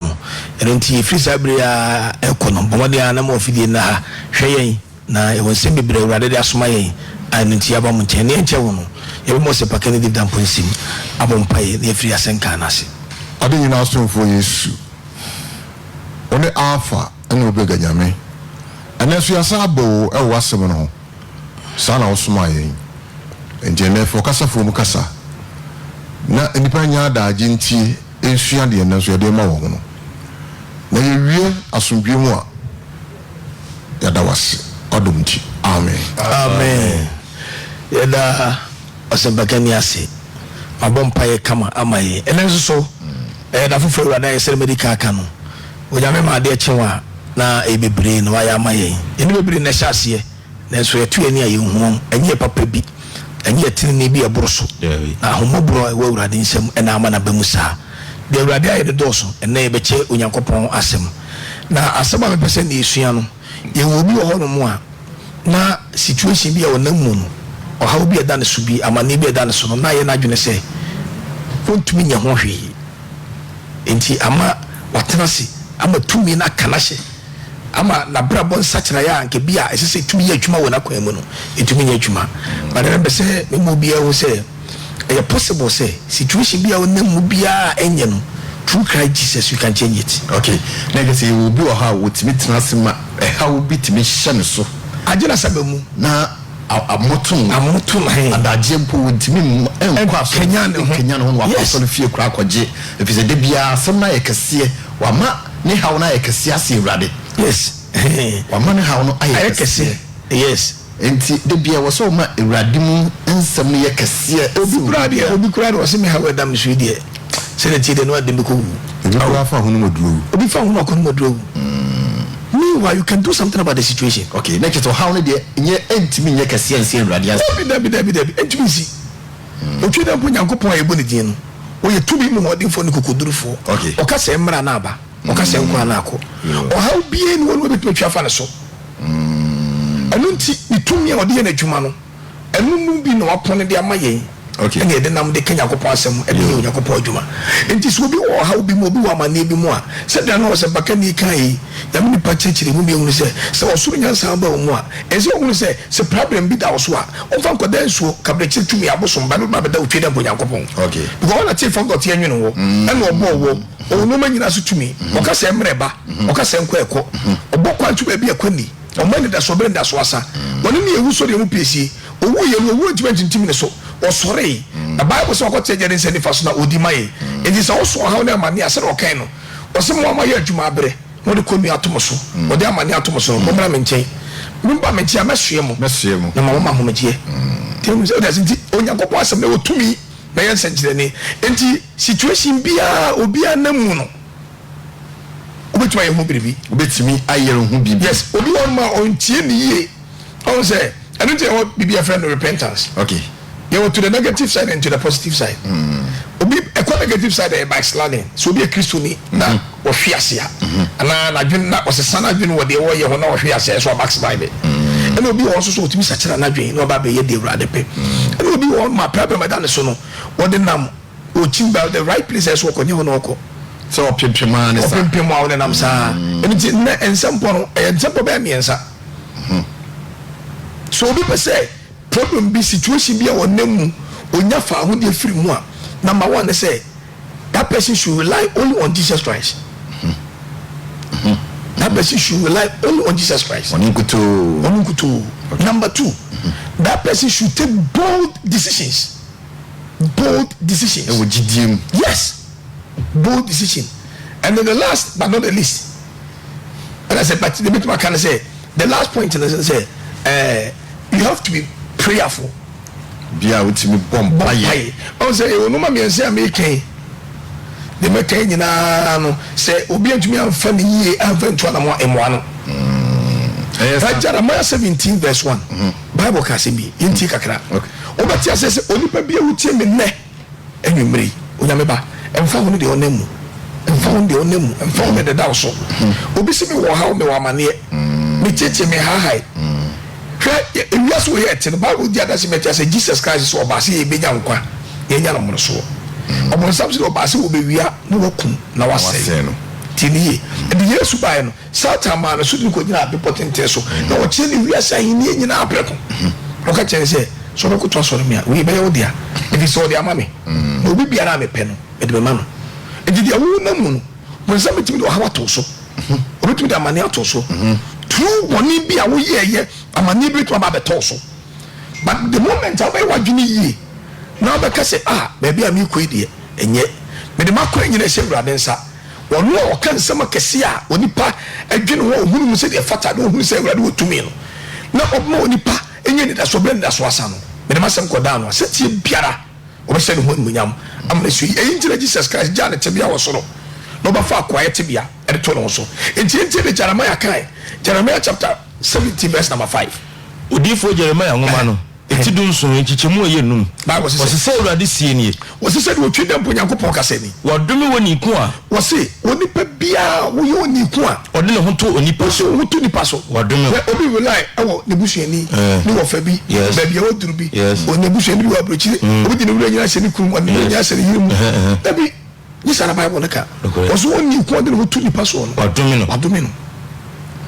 no. Ɛno nti, ɛfiri saa berɛ yi ara rekɔ no, bɔ mmɔden ara na ma w'afidie nna ha hwɛ yɛn, na yɛwɔ nsɛm bebree a Awurade de asoma yɛn a ɛno nti yɛaba mo nkyɛn. Nea ɛnkyɛ wo no, yɛbɛma ɔsɛpakani David Amponsem abɔ mpaeɛ na yɛafiri asɛnka no ase. Ade nyinaa somfoɔ Yesu, wone Alfa ne Omega Nyame. Ɛnnɛ nso yɛasan aba o wɔ w'asɛm no ho. Saa na wosomaa yɛn. Enti ɛnnɛ fa ɔkasafoɔ mu kasa na nnipa nyɛ adaagye ntie nsua deɛ nnɛ nso yɛde rema wɔn no, na yɛwie asomdwoeɛ mu a, yɛda wo ase w'adom nti. Amen. Amen. Yɛda ɔsɛmpakani ase. Mabɔ mpaeɛ kama ama yɛn. Ɛnnɛ nso so, ɛyɛ da foforɔ Awurade ayɛ sɛdeɛ madi kan aka no. Onyame ma adeɛ kye wo a, na ɛyɛ bebree na wayɛ ama yɛn. Yɛn ne bebree na ɛhyɛ aseɛ. Nanso yɛto yɛn ani a, yehu wɔn, ɛnyɛ yɛn papa bi, ɛnyɛ yɛn trenee bi a ɛboro so, na ahummɔborɔ a ɛwɔ Awurade nsam na ama no aba mu saa. Deɛ Awurade ayɛ no dɔɔso. Ɛnnɛ yɛbɛkyɛ Onyankopɔn asɛm, na asɛm a mepɛ sɛ ɛnnɛ yɛsua no, yɛwɔ obi wɔ hɔnom a na situation bi a ɔnam mu no, ɔhaw bi a ɛda ne so bi, amanneɛ bi a ɛda ne so no, na ayɛ n'adwene sɛ ɔntumi nyɛ ho hwee, enti ama watena ase, ama tumi no aka no ahyɛ. ama n'abrabɔ nsakyeraɛ a anka ebia ɛsɛ sɛ etumi yɛ adwuma wɔ n'akwan mu no atumi anya adwuma. But ɛnnɛ mepɛ sɛ mema obiara hu sɛ ɛyɛ possible sɛ situation bi a wonam mu biara a ɛnyɛ no, through Christ Jesus you can change it. Okay, na ɛkyerɛ sɛ yɛwɔ obi wɔ hɔ a otumi tena ase ma ɛhaw bi tumi hyɛ ne so. Agye no asaba mu. Na amoto no. Amoto no he. Adagyeɛ mpo ontumi nkɔ asɔre. Nkanyan ne ho. Nkanyan ne ho na wakɔ asɔre fie koraa akɔgye. Efisɛ da biara asɛm no ayɛ kɛseɛ. Wama. Ne haw no ayɛ kɛseɛ ase Awurade. Yes hee. Wama ne haw no ayɛ kɛseɛ. Ayɛ kɛseɛ yes. Nti da biaa ɛwɔ sɛ ɔma Awurade mu nsɛm no yɛ kɛseɛ ase Obi koraa deɛ obi koraa deɛ ɔse me haw ɛda me so yi deɛ sɛ na ɛteɛ deɛ na w'adwene bɛkɔ wu. Obi koraa fa ahonu ma duro wu. Obi fa ahonu akɔnom ma duro wu. Meanwhile you can do something about the situation. Okay na kyerɛ sɛ ɔhaw no deɛ nyɛ ɛntumi nyɛ kɛseɛ nse Awurade ase. Dabi dabi dabi dabi ɛntumi nsi. Otwa dɛ mpo Nyankopɔn a yɛbɔ ne dzin no, ɔyɛ tumi mu hɔndenfoɔ ne kokodurufoɔ. Ɔka sɛ, Mmra na aba. Ɔka sɛ, Nkɔ na akɔ. Ɔhaw biara nni hɔ no wɔbɛtumi atwa afa ne so. Ɛno nti, ne tumi a ɔde yɛ n'adwuma no, ɛno mu bi na wapɔn de ama yɛn, ɛna yɛde nam de ka Nyankopɔn asɛm de yɛ Onyankopɔn adwuma. Enti sɛ obi wɔ ɔhaw bi mu, obi wɔ amanneɛ bi mu a, sɛdeɛ na ɔsɛmpakani kaeɛ yi, Nyame nipa kyerɛkyerɛ mu ma yɛhunu sɛ, sɛ ɔsoro nyansa ba wo mu a, ɛsɛ sɛ wohunu sɛ, Sɛ problem bi da wo so a, wo nfa nkɔda nsuo, kabrɛkyere tumi, abosom ba na wotumi abɛda otwe dɛ nka Onyankopɔn. Because ɔna te fɔgɔ te ɛnwene wo, ɛna ɔbɔɔ wɔ, ɔwɔ nnoɔma nyinaa so tumi, ɔka sɛ ɛmrɛ ɛba, ɔka sɛ ɛnkɔ ɛkɔ, ɔbɔ kwan to baabi a ɛkɔ nni, ɔma anidasoɔ bere anidasoɔ asa, ɔne ne awu sɔreɛ mu piesie, ɔwuu yɛ no owuo ntumi antintim ne so, ɔsɔree, na bible sɛ wakɔ te agya ne nsa nifa so na ɔdi ma yɛn, nti sɛ wo so ɔhaw ne amaneɛ a sɛdeɛ ɔkae no, ɔse moa moayɛ adwuma abrɛ. Mode kɔnnua ato mo so, mode amanneɛ ato mo so no, mommra me nkyɛn. Momma me nkyɛn a, mɛsoɛ mo, na mama mo ahomegyeɛ. Wonim sɛ, wote ase nti, Onyankopɔn Asɛm no wɔ tumi na ɛyɛ nsɛnkyerɛnne. Enti, situation biara a obiara nam mu no, wobɛtumi ayɛ ho biribi. Wobɛtumi ayɛ ho biribi. Yes, obi wɔ hɔnom a, ɔntie nne yie. Ɔhu sɛ ɛno nti na ɛwɔ biribi a yɛfrɛ no repentance. Okay. Yɛwɔ to the negative side and to the positive side. Mm. Obi ɛkɔ negative side ɛyɛ backsliding. Sɛ obi yɛ Kristoni na mm. ɔhwe ase a, mm-hmm. anaa n'adwene na ɔsesa n'adwene wɔ deɛ ɔyɛ ho na ɔhwe ase ɛsɛ ɔbackslide. Mm. Ɛna obi wɔ hɔ nso so ɔtumi sakyera n'adwene na ɔba abɛyɛ deɛ Awurade pɛ. Mm. Ɛna obi wɔ hɔ ma problem ɛda ne so no, ɔde nam Ɔkyi ba the right place a ɛsɛ ɔkɔ nyɛ hɔ na ɔkɔ. Sɛ ɔpempem ara ne saa. Ɔpempem a ɔnenam saa. Mm. Ɛno nti nnɛ nsɛmpɔ no ɛyɛ nsɛmpɔ bɛyɛ mmiɛnsa. Hmm. Sɛ obi pɛ sɛ problem bi situation bi a ɔnam mu ɔnya faahodeɛ firi mu a, number one ne sɛ that person should rely only on Jesus Christ. Hmm. Hmm. That person should rely only on Jesus Christ. Ɔno nkutoo. Ɔno nkutoo. Number two, that person should take bold decisions. bold decisions. Ɛwɔ gyidie mu. Yes bold decision and then the last but not the least and I said but the bit my kind of say the last point and I say uh, you have to be prayerful. Bia wotumi bɔ mpaeɛ. Ɔn sɛ ɛwɔ nneɛma mmiɛnsa a mekan deɛ mɛkan nyinaa no sɛ obi antumi amfa ne yie amfa ntu anamɔ mmoa no. Ɛyɛ sa. Jeremiah seventeen verse one. Mm-hmm. Bible ka asɛm bi, yɛntie kakra. Wobɛte aseɛ sɛ onipa bi a wotie me nnɛ anwummere yi, Onyame ba, ɛmfa ho ne deɛ ɔnam mu, ɛmfa ho ne deɛ ɔnam mu, ɛmfa ho ne deda wo so. Hmm. Obi se mewɔ ɔhaw, mewɔ amaneɛ, hmm. mekyekye, mehaahae. Hmm. Hwɛ, ewiase wɔ yɛ ɛte no, Bible di adanse mɛte asɛ Jesus Christ sɛ ɔbaa sɛ yɛbɛnya nkwa na yɛnya no mmorosoɔ. Ɔbɔnsam sɛ ɔbaa sɛ wɔbɛwia na wakum na wasɛe no. Tie ne yie. Ɛde Yesu baeɛ no, Satan maa ne so tumi kɔgyinaa bepɔ tenten so, na ɔkyerɛɛ no wiase ahennie nyinaa prɛko, na ɔka kyerɛɛ no sɛ, Sɛ wobɛkoto asɔre me a, wei bɛyɛ wo dea, ɛfiri sɛ wɔde ama me, na obi biara a mepɛ no, mede bɛma no. Enti deɛ wonam mu no, Bonsam bɛtumi de ɔhaw ato wo so, ɔbɛtumi de amaneɛ ato wo so, turo bɔne bi a woyɛeɛ, amaneɛ bi bɛtumi aba abɛtɔ wo so. But the moment a wobɛyɛ w'adwene yie, na wobɛka sɛ, Ah, baabi a merekɔ yi deɛ, ɛnyɛ. Mede m'akwan nyinaa hyɛ Awurade nsa. Ɔno a ɔka nsɛm akɛseɛ a onipa dwene ho a ɔhunu mu sɛdeɛ ɛfata na ɔhunu sɛ Awurade wɔ tumi no, na ɔbɛma onipa anya anidasoɔ berɛ a anidasoɔ asa no, mede m'asɛm kɔdaa no a, setie biara ɔbɛhyɛ ne ho animuonyam ama no asuo yi. Ɛyi nti na Jesus Christ gyaa ne tebea wɔ soro na ɔbɛfaa koayɛ tebea de too ne ho so. Enti yɛntie deɛ Jeremiah kaeɛ, Jeremiah chapter seventeen verse number five. Odiyifoɔ Jeremiah nwoma no. Eti dunson, nkyekyɛmu a ɛyɛ num. Bible se sɛ. Wɔse sɛ Awurade seɛ nie. Wɔse sɛdeɛ otwi dɛ mpo Nyankopɔn kasa ni. Wɔadome onii ko a. Wɔse onipa biara a woyɛ onii ko a. Ɔde ne ho to onipa so. Ɔde ne ho to nipa so. Wɔadome wo. Hwɛ obi rely wɔ n'abusuani, ne wɔfa bi, baabi a waduru bi, ɔn'abusuani bi wɔ aburokyire, obi de ne werɛ nyinaa hyɛ ne kunu mu, ɔde ne werɛ nyinaa hyɛ ne yere mu, dabi. Nye saa na Bible no ka. Nokorɛ. Ɔse Ɔnye nko a ɔde ne ho to nipa soɔ no. Wadome no. Wadome no.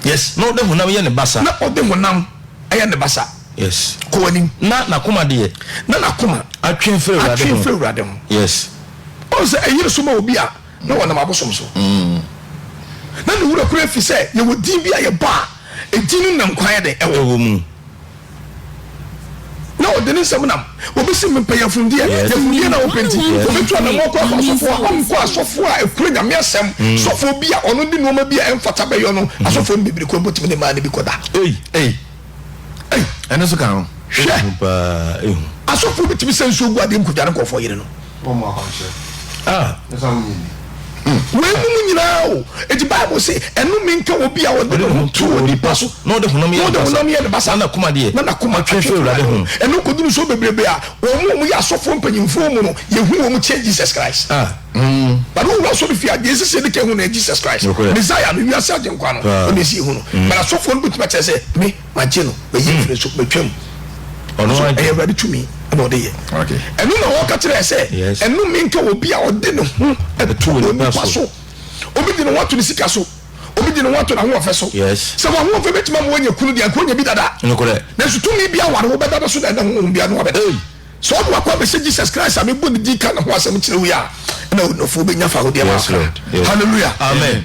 Yes. Na ɔde honam yɛ ne basa. Na ɔde honam yɛ ne basa. Yes. Kɔ w'anim. Na n'akoma deɛ. Na n'akoma. Atwe mfiri Awurade ho. Atwe mfiri Awurade ho. Yes. Ɔhu sɛ ɛyere so ma obi a na ɔnam abosom so. Na ne werɛ koraa fi sɛ yɛwɔ din bi a yɛbɔ a edin no na nkwa yɛ dɛn? Ɛwɔ. Ɛwɔ mu. Na ɔde ne nsam nam. Wɔbɛsi me mpanyamfundeɛ, yɛfundeɛ na wɔpɛ nti, wɔbɛtu anammoɔ kɔ akɔ asɔfoɔ hɔ, nkɔ asɔfoɔ a ɛkura Nyame asɛm, sɔfoɔ bi a ɔno de nnoɔma bi a ɛmfata bɛyɔ no, asɔfoɔ no bebree koraa bɛtumi ne mmaa no bi kɔda. Ei! Ei! Ei! Ɛno nso ka ho. Hwɛ! Asɔfoɔ bɛtumi sɛ nsuo gu adeɛ mu kɔdware nkurɔfoɔ yere no. Weinom nyinaa o, eti Bible se, Ɛnome nka obi a ɔde ne ho to onipa so, na ɔde honam yɛ ne basa, na n'akoma deɛ, na n'akoma twe firi Awurade ho. Ɛno kɔduru so bebrebe a, wɔn a wɔyɛ asɔfoɔ mpanyimfoɔ mu no, yɛhu wɔn kyɛn Jesus Christ. But wowura asɔrefie a, deɛ ɛsɛ sɛ yɛdi kan hu no yɛ Jesus Christ, Messiah no, wiase Agyenkwa no, ɛno na ɛsɛ sɛ yɛhu no. But asɔfoɔ no bɛtumi akyerɛ sɛ, me. Magye no, mayi afiri ne so, matwa mu. Ɔno so ɛyɛ Awurade tumi na ɔde yɛ. Ɛno na wɔka kyerɛ sɛ, ɛnome nka obi a ɔde ne ho to onipa so. Obi de ne ho ato ne sika so. Obi de ne ho ato n'ahoɔfɛ so. Sɛ w'ahoɔfɛ bɛtumi ama wanya kunu deɛ, anka onya bi dada. Nanso tumi bi aware wo bɛda no so na ɛna honhom bi ano abɛda. Sɛ ɔde wakɔ abɛhyɛ Jesus Christ a mebɔ ne din ka ne ho asɛm kyerɛ wo yi a, ɛna ɔnɔfoɔ bɛnya fa ho deɛ ma akra. Hallelujah. Amen.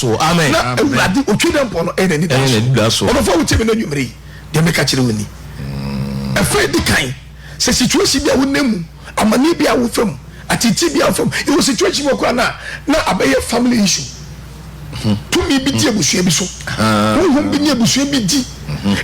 So, amen, na amen. Awurade otwi dɛ mpɔ no ɛyɛ n'ani da so. Ɛyɛ n'ani da so. Ɔdɔfo a wotie me no anwummere yi, deɛ meka kyerɛ wo ni. Ɛfa edi kan, sɛ situation bi a wonam mu, amanneɛ bi a wofa mu, ateetee bi a wofa mu, yɛwɔ situation bi wɔ koraa no a, na abɛyɛ family issue. Tumi bi di abusua bi so. Honhom bi ne abusua bi di.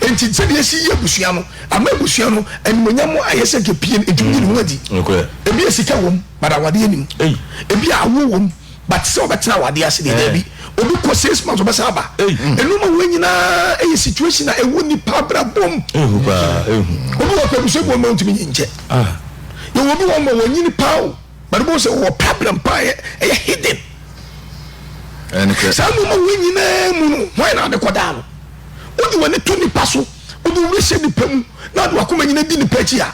Enti sɛdeɛ yɛsi yi abusua no, ama abusua no animuonyam ayɛ sɛ nka pie no, ɛtumi yi ne ho adi. Nokorɛ. Ebi a sika wom, but awadeɛ nni mu. Ei. Ebi a awoɔ wom. but sɛ ɔbɛtena awadeɛ ase deɛ daabi obi kɔ six months ɔbɛsan aba ɛnoma wei nyinaa ɛyɛ situation a ɛwɔ nipa abrabɔ mu obi wɔ pɛ busuabu ɔma ɔntumi nyi nkyɛ yɛwɔ obi wɔ ma wɔnyini paa o but wobɛhu sɛ wɔwɔ problem paa ɛyɛ hidden saa noma wei nyinaa mu no hwan na ade kɔdaa no wode w'ani to nipa so wode wura hyɛ nipa mu na ade wakoma nyina di nipa akyi a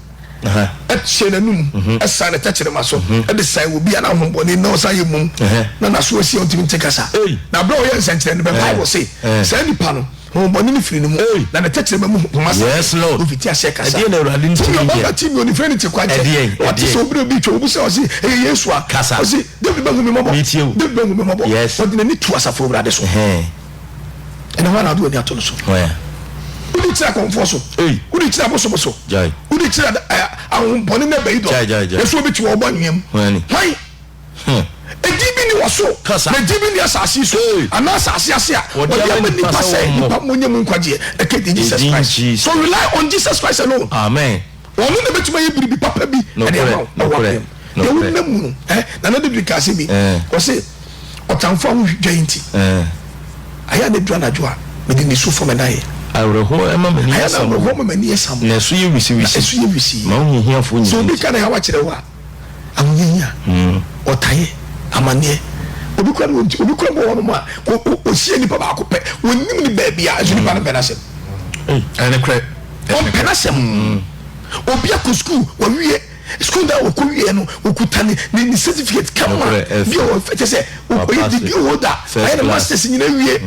teɛ n'anom san ne tɛkyerɛma so de san wɔ bia na ahombɔne na ɔsan yɛ mum na n'aso asi a ɔntumi nte kasa na berɛ a ɔyɛ nsɛnkyerɛ no bɛ bible se saa nipa no ahombɔne no firi ne mu na ne tɛkyerɛma mu poma sa ɔfiti aseɛ kasa tumi ɔba ba tumi ɔnifrɛ ne te kwankyɛ ɔte sɛ obere obi twɛ obu sɛ ɔse ɛyɛ yesu a ɔse david bɛhu me mmɔbɔ david bɛhu me mmɔbɔ ɔde n'ani tu asafo awurade so ɛna hɔ na ɔde w'ani ato no so wode kyerɛ akɔmfoɔ so wode kyerɛ abosom so wode kyerɛ ahohombɔne no bɛyi dɔ na so wobɛti wɔwɔbɔ anweam hwan ɛdi bi ne wɔ so na ɛdi bi ne asase so anaa asase ase a wɔde ama nipa sɛ nipa monyɛ mu nkwagyeɛ ɛkɛ di jesus christ so rely on jesus christ alone amen Ɔno na bɛtumi ayɛ biribi papa bi ɛde ama wo na woabrɛ mu. Deɛ wonam mu no, na na David kaa sɛ bi, ɔse ɔtamfo a wohwi dwa yi nti, ayɛ a na ɛduru anadwo a mede nisu fɔ me nan yɛ. Awerɛhoɔ ɛma m'ani yɛ samoo, na ɛso yɛ wisiwisi, ma wohu hiafoɔ nyinaa nti. Sɛ obi ka ne haw akyerɛ wo a, Ahohiahia, ɔtaeɛ, amaneɛ. Obi kura no obi kura bɔ hɔnom a ɔhyia nipa baako pɛ ɔnim ne baabi a nso nipa no mpɛ n'asɛm. Ɔmpɛ n'asɛm. Obi akɔ sukuu wɔwie sukuu no a wɔkɔ wie no ɔkuta ne ne certificate kama bi a wɔfɛ kyɛ sɛ ɔyɛ degree holder ayɛ ne masters nyina wie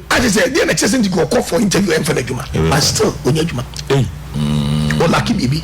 akyɛ sɛ deɛ na kyɛ sɛ nti ɔkɔ for interview ɛmfa no adwuma but still ɔnya adwuma ɔlaki biribi.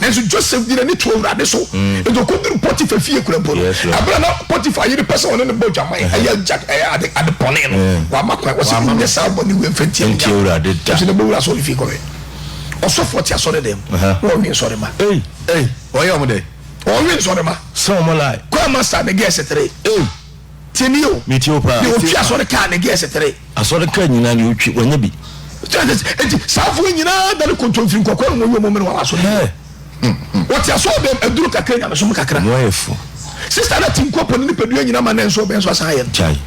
Nanso Joseph de n'ani too Awurade so, enti okoduruu Potifar fie kura mpo no. Bere a na Potifar yere pɛ sɛ ɔne no bɔ adwaman, ɛyɛ Jack, ɛyɛ ade, ade bɔne no, wamma kwan. Ɔse, Nyɛ saa bɔne wei mfa ntia me Nyankopɔn. Nanso na bɛwura asɔre fie kɔwɛn. Ɔsɔfoɔ te asɔre dan mu, na ɔwe nsɔremma. Ei! Ei! Ɔyɛ wɔn dɛn? Ɔwe nsɔremma. Sɛ wɔn lae. Choir master ne girls three. Ei! Tie me o. Me tie o paa. Deɛ ɔtwi asɔre kaa ne gears tere. Asɔre kaa nyinaa deɛ ɔtwi wanya bi. Eti saafoɔ nyinaa dane kontomfiri nkɔkɔɔ na wɔyɛ wɔn mene wɔn asɔre yi. Wɔte asɔre bɛm aduro kakra nyamesom kakra. Wɔn ayɛ fo. Sista no ati nkɔ po ne nipadua nyinaa ma nanso ɔbɛn so asan ayɛ no. Gyae.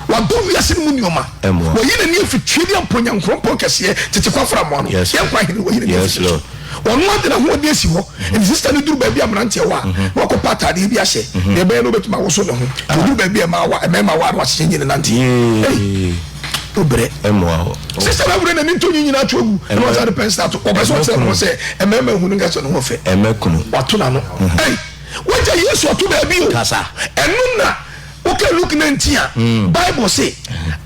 Wadɔ wiase no mu nneɛma. Ɛmoa. Wayi n'ani afi twe ne ampo Nyankoropɔn kɛseɛ tete kɔ afra mmoa no. Yes. Yɛn nkwa hene wayi n'ani afi ne so. Yes Lord. Ɔno ara de n'ahoɔden asi hɔ. Enti sista no duru baabi a mmeranteɛ wɔ a, na wakɔpɛ atadeɛ bi ahyɛ. Deɛ ɛbɛyɛ no ɔbɛtumi awoso ne ho. Nti ɔduru baabi a mmaa wɔ a, mmarima wɔ a, na wahyehyɛ nyi ne nante. Ei! Wobrɛ. Sista no awerɛ na ne ntɔnwi nyinaa atwo agu, ɛnna wasan de pɛnsel ato. Ɔpɛ sɛ ɔkyerɛ ne ho sɛ mmarima nhu no nka sɛ ne ho yɛ fɛ. Wato n'ano. Ei! Wagya Yesu ato baabi o! Ɛno na woka Luke nineteen a, Bible se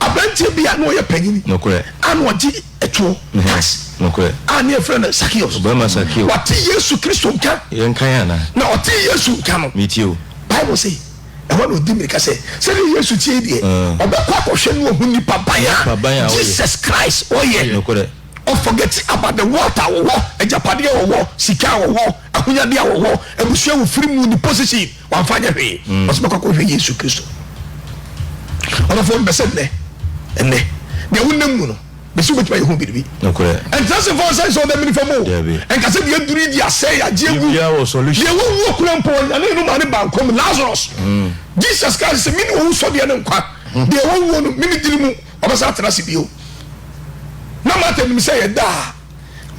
aberanteɛ bi a na ɔyɛ panyin a na ɔgye. to ne ho ase. Nokorɛ. A ne yɛfrɛ no Sakeo. Ɔbarima Sakeo. Wate Yesu Kristo nka. Yɛ nkan anaa? Na ɔtee Yesu nka no. Metie o. Bible se, Ɛhɔ na ɔdi mmirika sɛ, sɛdeɛ Yesu teɛ yi deɛ, ɔbɛkɔ akɔhwɛ ne wahu nipa ban a Jesus Christ ɔyɛ. Nokorɛ. Ɔforgɛte about the wealth a ɔwɔ, agyapadeɛ a ɔwɔ, sika a ɔwɔ, ahonyadeɛ a ɔwɔ, abusua a ɔfiri mu, ne position. Wamfa anyɛ hwee. Ɔsɛ bɛkɔ akɔhwɛ Yesu Kristo. Ɔdɔfoɔ mepɛ sɛ nnɛ, nnɛ, deɛ wonam mu no, bɛsi wobɛtumi ayɛ ho biribi. Ɛntra se mfɔn sɛn sɛ wobɛmene fa mu o. Ɛnka sɛ deɛ aduru yi deɛ asɛe yɛ agye agu. Deɛ wawu akura mpo ɔnyane no maa ne baa nkwa mu. Lazarus, Jesus Christ sɛ mene owusɔdeɛ ne nkwa. Deɛ wawuo no, mene dini mu, ɔbɛsan atena ase bio. Na Martha nim sɛ ɛyɛ da a.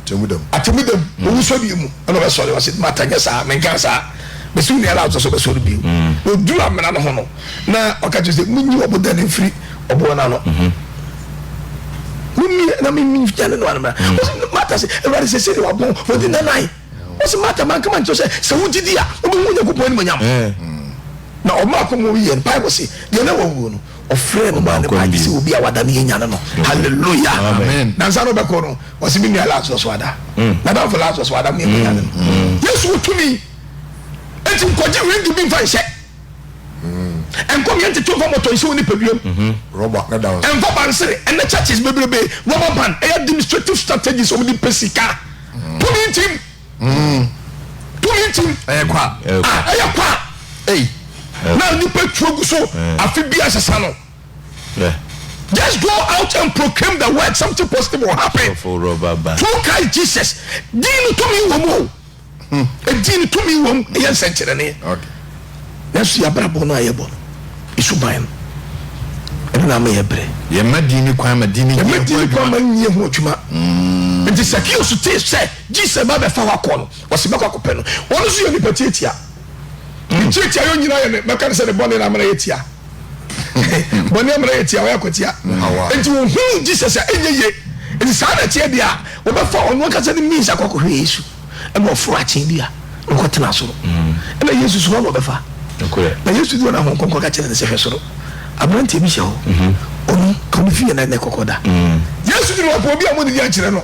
Atemmu da mu. Atemmu da mu. Mm. Owusɔreɛ mu ɛna ɔbɛsɔre wɔ se mata nyɛ saa menka saa bɛsi wo neara wosɛ sɛ ɔbɛsɔre bio mm. na ɔduru amena no ho no na ɔka kyerɛ sɛ monyi ɔboda no mfiri ɔboɔ no ano mm-hmm. mumie na menyane no anomena mm. ɔse mata sɛ awurade sɛ sɛdeɛ wabɔ wɔde nanae ɔse mata manka ma nkyerɛ sɛ sɛ wogyidi a wobɛhu onyankopɔn animonyam eh. na ɔma akɔmmɔ yɛ no bible se deɛ na wawuo no Ɔfrɛɛ no maa ne baa gyesɛ obi a wada no yɛ nyane no. Hallelujah! Nansa no ɔbɛkɔ no, ɔse me nua Lazarus wada. Nadamfo Lazarus wada mo yɛnkɔ nyane no. Yesu wɔ tumi enti nkɔgye wenge bi mfa nhyɛ nkɔmyɛ ntete mfa mmɔtɔ nhyɛ wo nipaduam. Ɛmfa bansere ɛnɛ churches bebrebe rubber band ɛyɛ administrative strategies wɔn de pɛ sika. Tumi ntim. mm. tumi ntim ɛyɛ kwa ɛyɛ kwa ei na nipa tuo gu so afe bi asesa no just go out and proclaim the word something positive will happen through Christ Jesus dín no tumi wɔ mu o hmm. ɛdin no tumi wɔ mu ɛyɛ nsɛnkyerɛnne nanso yɛabrabɔ no a yɛbɔ no ɛsu ban no ɛno na ama yɛ berɛ yɛma din no kwan ma din no yɛma din no kwan ma nyɛ ho adwuma nti sɛ kio so tee sɛ Jesus ba bɛfa hɔ akɔ no ɔse mɛkɔ akɔpɛ no ɔno nso yɛ nipa tiatia ne tiatia yɛ nyina yɛ ne mɛka ne sɛ ne bɔne na amena yɛ tia bɔne amena yɛ tia ɔyɛ akwatia nti ɔhunu Jesus a ɛnyɛ ye nti saa na ɛteɛ deɛ a ɔbɛfa ɔno ankasa ne means akɔ akɔhwɛ Yesu ɛna ɔforo akyen bi a na ɔkɔ tena soro ɛna Yesu so hɔ na ɔbɛfa na Yesu di ɔna ahon kɔnkɔ ka kyerɛ ne sɛ hwɛ soro aberanteɛ bi hyɛ hɔ ɔno ɔno fi yɛ na ɛkɔkɔ da Yesu di ɔpɔ obi a mo ne di ankyerɛ no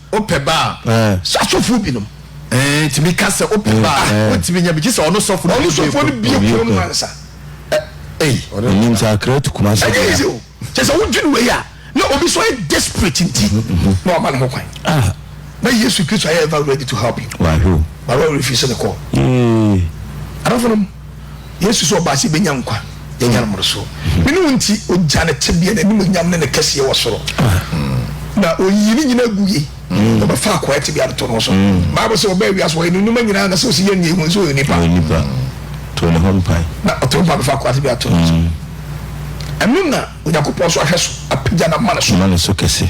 Wopɛ ba a, sɛ asɔfoɔ bi nom. Tumi ka sɛ wopɛ ba a, wotumi nya bi gye sɛ ɔno sɔfoɔ no bie kuro. Ɔno sɔfoɔ no bie kuro no ansa. Ei. Ɔnim sɛ akra tu kuma sɛ bia. Ɛnyɛ easy o. Kyɛ sɛ wodwene wei a, na obi so yɛ desperate nti na wama ne ho kwan. Ah. Na Yesu Kristo ayɛ ever ready to help you. Wahwɛ o. Baro refuse ne call. Yee. Adɔfo nom. Yesu sɛ ɔbaa sɛ yɛbɛnya nkwa, yɛanya no mmorosoɔ. Ne ne wo nti, ɔgya ne tebea, n'animuonyam ne ne kɛseɛ wɔ soro, na ɔyii ne nyinaa gu yei, na ɔbɛfa akoa yɛ tebea no to no so. Bible sɛ ɔbaa wiase hɔ, yɛ ne nnwuma nyinaa na sɛ ɔsi yɛn nyɛ hu nso ɔyɛ onipa. To ne ho mpae. Na ɔto mpa bɛfa akoa tebea to no so. Ɛno na Onyankopɔn nso ahwɛ so apagya no ama ne so. Ama ne so kɛse.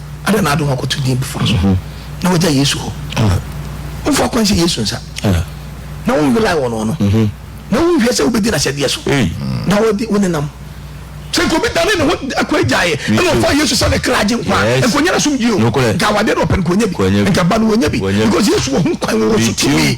Adɛn na ade ho akɔto din foforɔ so na wagya Yesu hɔ? Womfa akwan sɛ Yesu nsa na wonwelae wɔ no no na wonhwɛ sɛ wobɛdi n'ahyɛdeɛ so na wode wo nenam sɛ nka obi dane ne ho akɔ agyaeɛ ɛna ɔfa Yesu sɛ ne kra gye nkwa nkɔnya no asomdwie o nka awadeɛ na ɔpɛ no kɔnya bi nka ba no wɔnya bi because Yesu wɔ ho kwan wɔ wɔ so tumi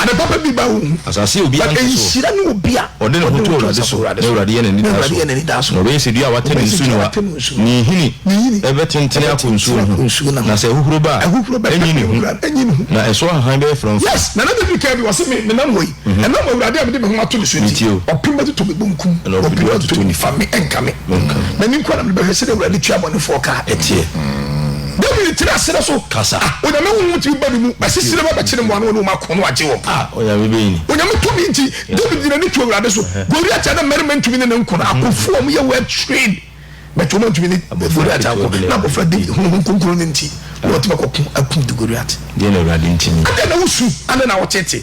Ade papa bi ba wo ho. Asase yɛ obiara mfasoɔ. But nhyira ne obi a ɔde ne ho to Awurade so, na Awurade yɛ n'anidasoɔ. Na ɔbɛyɛ sɛ dua a watɛ ne nsu no a ne nhini bɛtentene akɔ nsuo no ho, na sɛ ahuhuro ba a, ɛrenyi ne ho, na ɛso ahahan bɛyɛ frɔmfrɔm. Yes, Nana David kaa bi, ɔse, Me nam wɔ yi, ɛnam Awurade a mede me ho ato ne so nti, ɔpem bɛtotɔ me bonkum, na ɔpedu atoto nifa, me ɛnka me. M'ani nko ara na mede bɛhwɛ sɛdeɛ Awurade tua abɔnefoɔ ka a ɛteɛ. Dawid tenaa serɛ so. Kasa. A Onyame honhom tumi ba ne mu, bɛsese ne ba, bɛkye ne mmoa no, ɔne wɔn ako na wagye wɔn. A Onyame bɛyi no. Onyame tumi nti, Dawid de n'ani too Awurade so. Goliat a na mmarima ntumi ne no nko no, akofo a wɔyɛ well trained, but wɔantumi ne Goliat anko, na abɔfra Dawid, honhom kronkron no nti, na watumi akɔko akum Goliat. Deɛ na Awurade ntumi. Adɛn na wosu, adɛn na woteetee?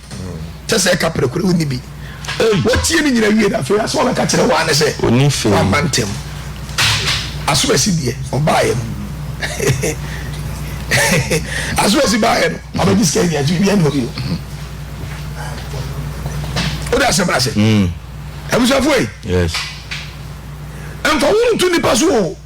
kyɛ sɛ ɛka pere koro wonni bi wɔtie ne nyina wie na afei asɛ ɔbɛka kyerɛ wɔn ane sɛ wɔama ntɛm asomasi deɛ ɔbaeɛ no asomasi baeɛ no ɔbɛgye sika nyina nti biribiara ne hɔ bio wode asɛm no ase abusuafoɔ yi ɛmfa wo nto nnipa so o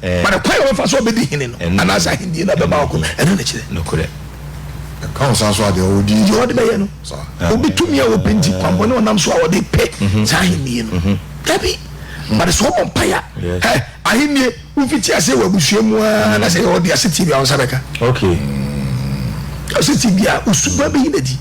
But kwan a ɔbɛfa so a ɔbɛdi hene no anaasɛ ahendie no a ɛbɛba ɔko no, ɛno na ɛkyerɛ. Ɛka wo saa so a, deɛ ɔdi. Deɛ ɔde bɛyɛ no. Obi tumi a ɔpɛ nti, kwanbɔne ɔnam so a ɔde pɛ saa ahennie no. Dabi. But sɛ ɔbɔ mpaeɛ a, ɛ ahennie wofiti aseɛ wɔ abusua mu ara na sɛ yɛ ɔde asetie bi a wo nsa bɛka. Okay. Asetie bi a, wo suban bɛyi no adi.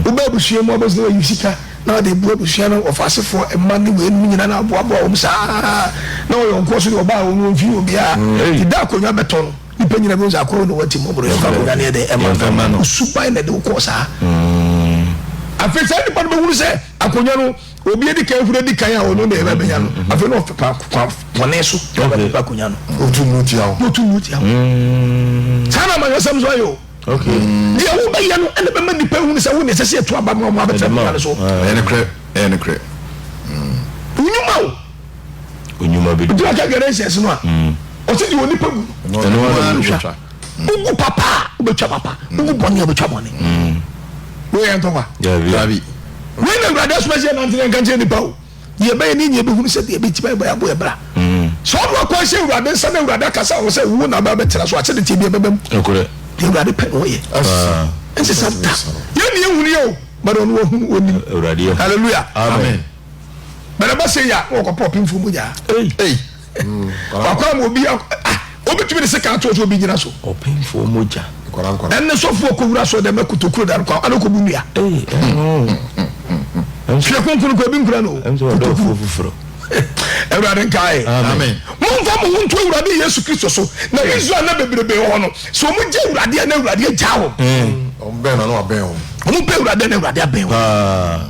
Wobɛ abusua mu abɔsene wayi sika. na ɔde abu abusua no wɔfasefoɔ mma ne weinom nyinaa na aboaboa wɔn saa ara na wɔyɛ wɔn kɔɔ so deɛ ɔbaa wɔn no ɔmfii obiara ti da akonnwa bɛtɔ no nnipa nyinaa bɛhu sɛ akɔɔ no wɔnti mmɔborɔ yɛmfa akonnwa no yɛ dɛn ɛma Yɛmfɛma no. no suban na ɛde wo kɔɔ saa afei saa nnipa no bɛhunu sɛ akonnwa no obi adi kan hunu adi kan a ɔno na ɛbɛ bɛnya no afei na ɔfɛ pa kwa pɔne so na ɔbɛ Okay. pepa akonnwa no Otu nnu tia wo. na ɔtu nnu tia wo saa na amanyɔsɛm nso ayɛ o Deɛ wobɛyɛ no ɛna bɛma nnipa ahunu sɛ wo na ɛsɛ sɛ yɛto aba ma wɔn abɛtena akonnwa no so. Ɛyɛ nokorɛ, ɛyɛ nokorɛ. Onyuma o. Onyuma bi. Obi aka gɛrɛ nsɛnsi no a, ɔsi di onipa gu. Ɛnu wa na ɔtwa. Ugu papa a wobɛtwa papa, ugu bɔne a wobɛtwa bɔne. Wei yɛ ntɔkwa. Dabi. Wei na awurade asoma sɛ yɛnante na nka nkyerɛ nipa o. Deɛ ɛbɛyɛ ne nyɛ bɛhunu sɛ deɛ bɛti bɛbɔ yɛabo yɛ bra sɛ ɔno akwan sɛ awurade nsa na awurade akasa wɔ sɛ wo na bɛbɛtena so akyɛ de tie deɛ bɛbɛm deɛ awurade pɛ na ɔyɛ ɛnse sa da yɛ ne ɛhunu yɛ o bɛrɛ ɔno ɔhunu ɔnim hallelujah amen bɛrɛ bɛ sɛ yɛ a wɔkɔpɔ ɔpemfoɔ mu nyaa wakɔ ama obi a wobɛtumi de sika atoɔ sɛ obi gyina so ɔpemfoɔ mogya ɛne sɔfoɔ kɔwura sɔ dɛm akutokuro da no kɔ ane kɔbu nnua hwɛ konkono kɔ ebi nkura no kutokuro foforɔ awurade nkae momfa mo ho nto awurade yesu kristo so na israel na bebrebe hɔ no sɛ ɔmo gye awurade a na awurade agya wɔm ɔmo bɛ awurade na awurade abɛn wɔm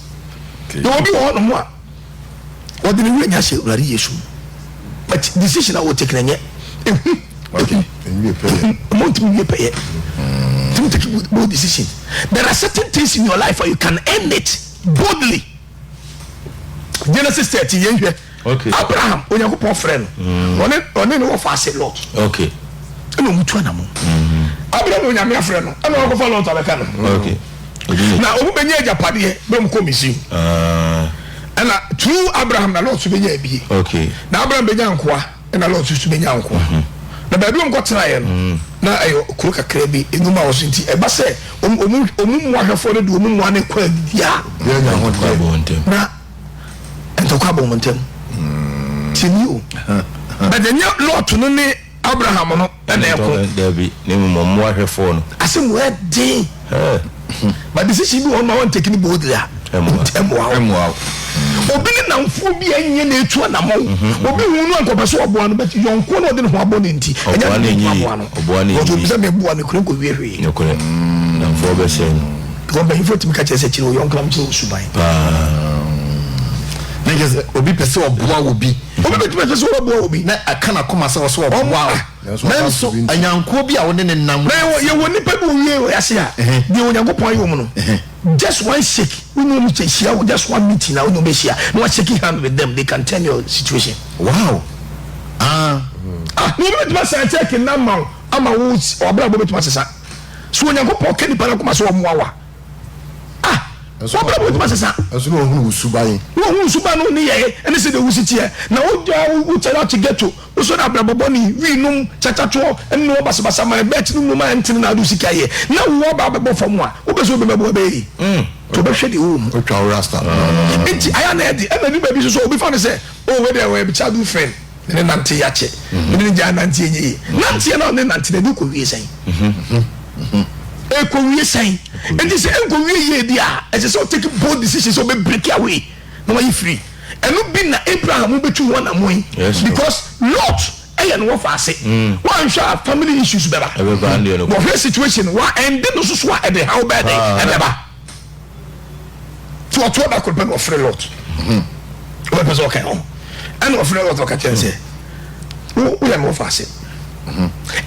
Yɛwɔ obi wɔ hɔnom a ɔde ne wura nya hyɛ Awurade Yesu mu but decision a wɔtake na nyɛ ehu ehu ehu ɔmo ntumi wie pɛyɛ ntumi take bold decision there are certain things in your life you can end it boldly Genesis thirteen yɛn hwɛ. Okay. Abraham, Onyankopɔn frɛ no. Mm. Ɔne ɔne ne wɔfa ase Lot. Okay. Ɛna wɔn tu anamɔ. Mm. Abraham Onyame afrɛ no. Ɛna wɔn kɔfa Lot abɛka no. Okay. Na wɔn bɛnyɛ agyapadeɛ bɛ wɔn kɔ Misiri. Ah. Ɛna through Abraham na Lot so bɛnya abie. Okay. Na Abraham bɛnya nkoa. Ɛna Lot so bɛnya nkoa. Mm -hmm na baabi wɔn kɔtena yɛ no mm. na ɛyɛ kuro kakra bi enuma wɔ so nti ɛba sɛ wɔn wɔn mu ahwɛfoɔ no de wɔn mu ano kɔ abia na ntɔkwa bɔ wɔn ntam ti ni o bɛtɛ nye lɔɔto no ne abraham no ɛna ɛko dabi ne mu mɔ mmoa hwɛfoɔ no ase mu ɛden ba decision bi wɔn ma wɔn tɛkini bɔ odiri a ɛmoa ɛmoa obi ne namfoɔ bi ɛnyɛ na etu anamɔ obi hu no nkɔpɛ so ɔboa no bɛ yɔnko na ɔde ne ho abɔ ne nti ɛnyɛ ne ho aboa no ɔtɔ bi sɛ mɛ boa ne kure nkɔ wie hwee namfoɔ bɛ sɛ no. Because mpanyinfoɔ tumi ka kyerɛ sɛ kyerɛ wo yɔnko na mekyerɛ wo suban. Na kyerɛ sɛ obi pɛ sɛ ɔboa wɔ bi. Obi bɛtumi pɛ sɛ ɔbɛboa wɔ bi. Na ɛka n'akoma sɛ ɔsɛ ɔboa wo. Nanso anyankoɔ bi a wo ne ne nam. Na yɛwɔ nipa bi wɔ wie wɔ yɛase a. Deɛ Onyankopɔn ayɛ wɔn no. Just one shake wo ne wɔn hyia wɔ just one meeting na wo ne wɔn bɛhyia na wa shake hand with them they can turn your situation. Wow ah. Ah na obi bɛtumi asɛn check na ama wo ama wo ɔbrabɔ bɛtumi asesa. So Onyankopɔn ka nipa no akoma sɛ ɔmmoa wo a? A. W'abrabɔ betumi asesa. Nso na ɔhunu wo suban. Na ɔhunu wo suban ne wo nneyɛe ne sɛdeɛ wosi teɛ. Na wogyaa wo wo kyɛre akye ghetto, wosɔre abrabɔ bɔne, wii nom, kyakyatoɔ, nnoɔ basabasa, man bɛɛkye ne nnoɔma a ɛntene na ade wo sika yɛ. Na wo aba abɛbɔ fam a, wopɛ sɛ obɛma boa bɛyɛ yie. Nti ɔbɛhwɛ deɛ ɔwɔ mu. Ɔtwa wo rasta. Nti ayɛ a na ɛyɛ den ma nnwuma bi nso sɛ obi fa no sɛ, Oh wei deɛ ɔyɛ me childhood friend. Me ne nante yɛakye. Me ne no gyaa nante ɛnyɛ yie. Nanteɛ no a ne nante no ɛde kɔ wie sɛn? Ɛkɔ wie sɛn? Ɛnti sɛ ɛnkɔ wie yie deɛ a ɛsɛ sɛ ɔtake bold decision sɛ ɔbɛ break away na wayɛ free. Ɛno bi na Abraham bɛtu ho anamɔn because Lot ɛyɛ no wɔfa ase. Wanhwɛ a family issues bɛba. Wɔhwɛ situation wa ɛnde no soso a ɛde haw bɛɛ de ɛbɛba. tí ɔtɔ da koro pɛ na ɔfrɛ lɔt ɔbɛ pɛ sɛ ɔka ho ɛna ɔfrɛ lɔt ɔka kyɛn sɛ woyɛ me wɔfa ase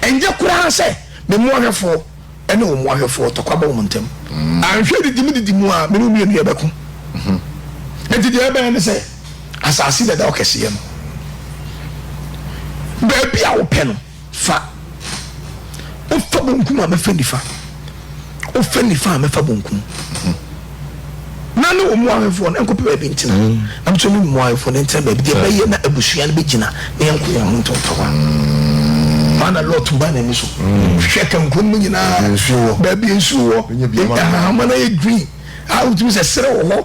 ɛnyɛ koraa sɛ me mu ahwɛfoɔ ɛne wɔn mu ahwɛfoɔ tɔkwa bɔ wɔn ntɛm anhwɛ didi mu didi mu a me ne wɔn mmienu yɛ bɛko nti deɛ ɛbɛn ne sɛ asase dada ɔkɛseɛ no baabi a wopɛ no Fa, wofa bonkum a, mɛfa nifa, wofa nifa a, mɛfa bonkum. Na ne wɔn ahemfo no nkɔpɛ baabi ntena, na nso ne wɔn ahemfo no ntena baabi deɛ bɛyɛ na abusua no bɛgyina na yɛnko yɛn ho ntɔntɔwa. Maa na Lot ba n'ani so hwɛ kankurom no nyinaa, baabi nsuo wɔ, ahama no yɛ green, a wotumi sɛ serɛ wɔ hɔ.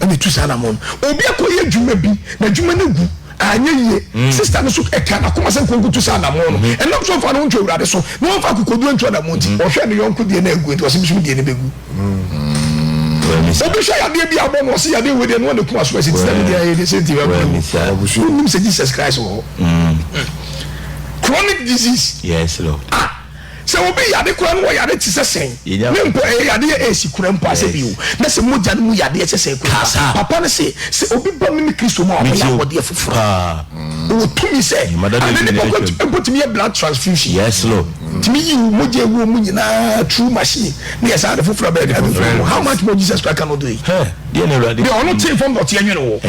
ɛna etu saa anamɔ no obi akɔ yɛ adwuma bi na adwuma no gu anyɛ yie mm. sista no so ɛka n'akoma sɛ nkonko tu saa anamɔ no mm-hmm. ɛnam so nfa no ntwa awurade so na wɔnfa akokoduro ntwa anamɔ nti mm-hmm. ɔhwɛ ne yɔnko deɛ na egu nti ɔsɛ bisum deɛ ne begu obi hwɛ yadeɛ bi abɔ no ɔsɛ yadeɛ wɔ deɛ no wɔn ne kuma so ɛsɛ ti na ne deɛ ayɛ de sɛ ti wɔ ɛmu onim sɛ Jesus Christ wɔ hɔ chronic disease. yes lord. ah Sɛ obi yare koraa no wɔ yare te sɛ sɛn ne mpo ɛyɛ yadeɛ a ɛsi kura mpo asɛ bio na sɛ mogya no mu yadeɛ sɛ sɛn kura mpo a papa no se sɛ obi ba mene Kristo mu a ɔbɛyɛ abɔdeɛ foforɔ ɔwɔ tumi sɛ ane ne bɔkɔ mpo tumi yɛ blood transfusion tumi yi wo mogya ɛwuo mu nyinaa through machine ne yɛ saa ade foforɔ a bɛyɛ ade foforɔ how much more Jesus Christ cannot do it deɛ ɔno tee fam dɔteɛ nwene wo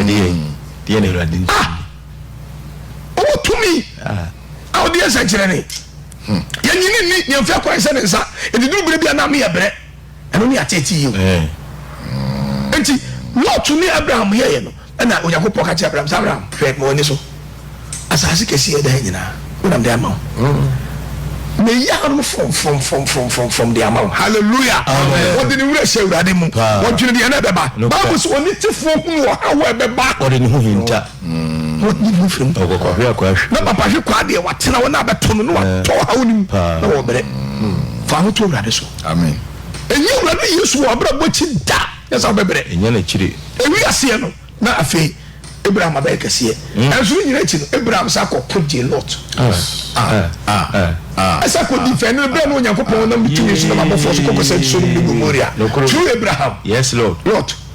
ah ɔwɔ tumi a ɔde yɛ nsɛnkyerɛnne. Yɛnyini nni nea mfeɛ kɔe sɛ ne nsa, enti duru berɛ bi a na meyɛ brɛ. Ɛno ne ateetee yi o. Enti Lot ne Abraham yɛeɛ no, ɛnna Onyankopɔn ka kyerɛɛ Abraham sɛ, Abraham, hwɛ, ma w'ani so asaase kɛseɛ a ɛda ha nyinaa, wonam de ama wo. Mayi ahanom frɔmfrɔmfrɔmfrɔmfrɔmfrɔm de ama wo. Haleluya! Ɔde ne werɛ hyɛ Awurade mu. Ɔdwene deɛ na ɛbɛba. Bible se, Onitefoɔ hunu ɔhaw a ɛbɛba. Ɔde ne ho hinta. na wɔyi ne ho firi mu. Na papa hwe kwaa deɛ watena hɔ na abɛto no na watɔ ɔhaw no mu na wɔbrɛ. Fa ho to Awurade so. Ɛnyɛ Awurade Yesu wɔ w'abrabɔ akyi da na sɛ wobɛbrɛ. Ɛwi aseɛ no na afei Abraham abɛyɛ kɛseɛ. Ɛnso ne nyina akyi no Abraham sa kɔ ko gyee Lot. Ɛsa kɔ di fɛ no berɛ na Onyankopɔn nam ne tumi so nam abɔfoɔ so kɔkɔsɛn Sodom ne Gomoria through Abraham. Lot.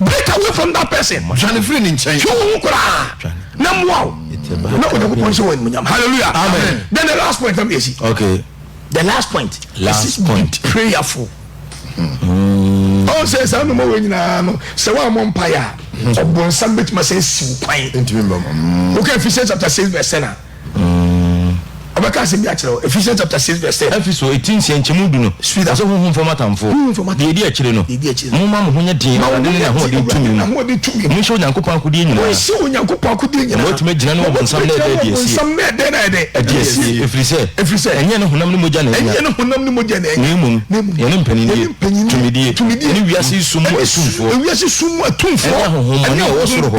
Break away from that person. Dwane firi ne nkyɛn. Twe wo ho koraa na mmoa wo na Onyankopɔn nhyɛ wo animuonyam. Hallelujah. Amen. Then the last point na mede asi. Okay. The last point. Last is point. Be prayerful. Mm. Oh, say say no more nyina no. Say wa mo mpae a. Obonsam betuma say siw kwan. Ntimi mbam. Okay, Ephesians chapter 6 verse 10. Ɔbɛka asɛm bi akyerɛ wo. Ephesians chapter six verse ten. Efeso ti nsia nkyɛmu du no ka sɛ honhom fam atamfo. Deɛ edi akyire no, momma mo ho nyɛ den Awurade ne n'ahoɔden tumi mu. Monhyɛ Onyankopɔn akodeɛ nyinaa, na moatumi agyina ne ɔbonsam na ɛda adi asie, ɛfiri sɛ ɛnyɛ ne honam ne mogya na anya, na mmom yɛne mpaninnie, tumidie, ne wiase yi sum mu atumfoɔ, ɛne ahonhommɔne a wɔwɔ soro hɔ.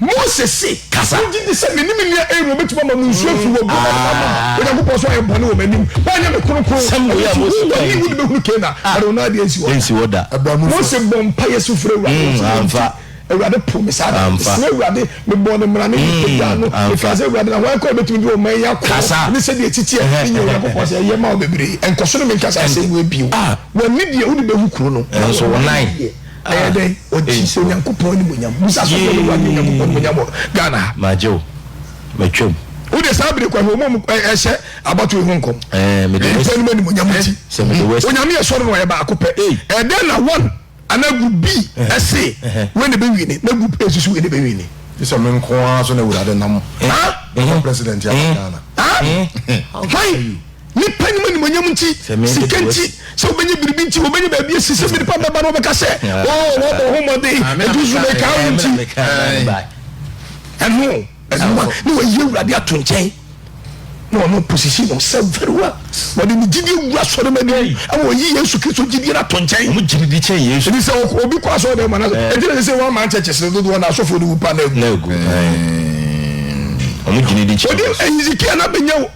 Mose se, Wogye di sɛ me ne me nua Aaron bɛtumi ama mo nsu afiri wɔ burodo no mu ama Onyankopɔn nso ayɛ bɔne wɔ m'anim? Woanyɛ me kronkron, ɛno nti wo, wɔne wo de bɛhunu Kanaan, na de wo nan ade ansi hɔ da. Mose bɔɔ mpaeɛ su frɛɛ Awurade, ɔse, Yei nti Awurade poo me saa da no. Mesrɛɛ Awurade, mebɔɔ ne mmara no, ne Tebea no, mekaa sɛ, Awurade, na hwan koraa na ɛbɛtumi de ɔman yi akɔ hɔ? Ɛne sɛdeɛ ɛtete ɛ, menyɛ Onyankopɔn sɛ ɛyɛ ma wo bebree, nkɔ so ne menkasa asɛm wei bio. Wɔne deɛ wode bɛhu kuro no, na wɔne deɛ. Ɛyɛ dɛn? Ɔgye Onyankopɔn animuonyam. Bisa sɔfoɔ no, Wagye Onyankopɔn animuonyam wɔ Ghana ha? Magye o. Matwam. Wode saa bere kwan yi, wɔmmom ɛhyɛ abatoɔ yi ho nkɔm. Nnipa nom animuonyam nti. Onyame yɛ sɔre na ɔyɛ baako pɛ. Ɛdɛn na one anaa group B se wei na ɛbɛwini na group A nso se wei na ɛbɛwini? Gye sɛ me nko ara so na Awurade nam mema president aba Ghana. Hwan? Nnipa nim animuonyam nti, sika nti, sɛ wobɛnya biribi nti, wobɛnya baabi asi sɛ nnipa bɛba na wɔbɛka sɛ, oh, wɔbɔ ho mmɔden, ɛdu so mekaa wo nti. Ɛno, ɛno a na wɔayi Awurade ato nkyɛn na ɔno position no sɛ very well. Wɔde ne gyidie wura sɔre ma ne mu, ɛma wɔyi Yesu Kristo gyidie no ato nkyɛn. Wɔn gyidie kyɛn Yesu. Ɛdi sɛ obi kɔ asɔre dɛm ma na ɛdi na sɛ wɔn aman kyɛkyɛ sɛ dodoɔ na asɔfoɔ no wu pa na egu. Na egu. Wɔn gyidie kyɛn Yesu. Wɔde Hezekia na bɛnya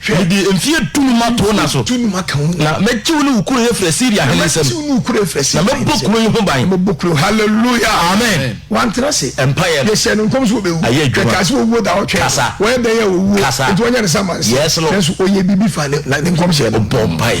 Hwɛ! Mede mfeɛ dunum ato wo nna so. Mfeɛ dunum aka wo nna. Na mɛgye wo ne wo kuro afiri Asiria hene nsam. Na mɛgye wo ne wo kuro afiri Asiria hene nsam. Na mɛbɔ kuro yi ho ban. Na mɛbɔ kuro yi ho ban. Hallelujah! Amen! Wantena ase. Mpaeɛ no. Yɛhyɛɛ no nkɔm sɛ ɔbɛwu. Ayɛ adwuma. Yɛkaa sɛ ɔwuo da ɔtwɛn. Kasa. Wɔyɛ dɛn a ɔwuo. Kasa. Enti wɔnyɛ no sɛ amansan. Yes, Lord. Nanso ɔyɛɛ biribi faa ne nkɔmhyɛ no. Ɔbɔɔ mpaeɛ.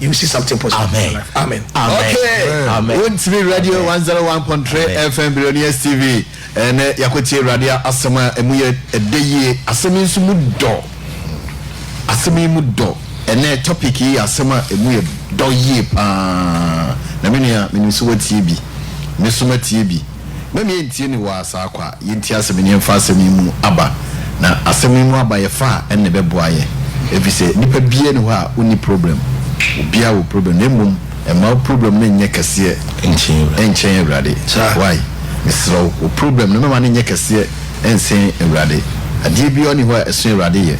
you see something positive amen. in your life amen. amen. okay wontiri radio one zero one point three fm billionaires tv ɛnɛ yakotie awurade asɛm a ɛmu yɛ ɛdɛ yie asɛm yi nso mu dɔ asɛm yi mu dɔ ɛnɛ topic yi yɛ asɛm a ɛmu yɛ dɔ yie paa na me nua menim sɛ watie bi me so matie bi Mɛma yɛntie ne wɔ asaa kɔ a yɛntie asɛm ne yɛmfa asɛm yi mu aba. Na asɛm yi mu aba yɛfa a ɛnna ɛbɛboa yɛn. Ɛfisɛ nnipa biara nni hɔ a ɔnni problem. Obiara wɔ problem na mmom mma wo problem no nyɛ kɛseɛ nkyɛn Awurade. Wai, mesrɛ wo, wo problem no mɛma no nyɛ kɛseɛ nsen Awurade. Adeɛ biara nni hɔ a ɛso Awurade yɛ.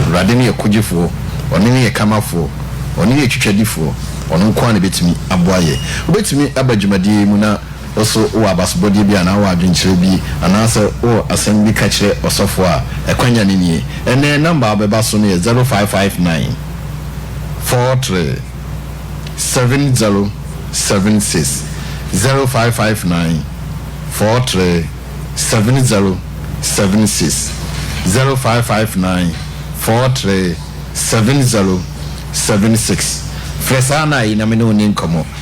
Awurade ne yɛ kogyefoɔ, Ɔno ne yɛ kamafoɔ, Ɔno ne yɛ twitwadifoɔ, Ɔno nko ara na ɛbɛtumi aboa yɛn. Wobɛtumi aba dwumadie yi mu na. Wo nso wowɔ abasobɔdeɛ bi anaa wowɔ adwenkyerɛ bi anaasɛ wowɔ asɛm bi ka kyerɛ ɔsɔfoɔ a, ɛkwanya no nie. Ɛnnɛ yɛn nɔmba a wobɛba so no yɛ zero five five nine four three seven zero seven six, zero five five nine four three seven zero seven six, zero five five nine four three seven zero seven six. Frɛ saa na ayi na me ne wo nni nkɔmmɔ.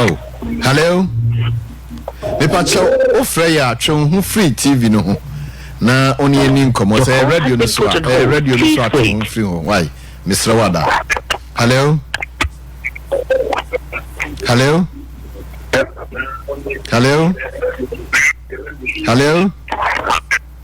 Oh, hello. Mepakyɛ wofrɛ yɛ a twe wo ho firi TV no ho na wo ne ani nkɔmmɔ sɛ ɛyɛ radio no so a ɛyɛ radio no so a twe wo ho firi ho wae mesrɛ wo ada. Hello. Hello. Hello. Hello.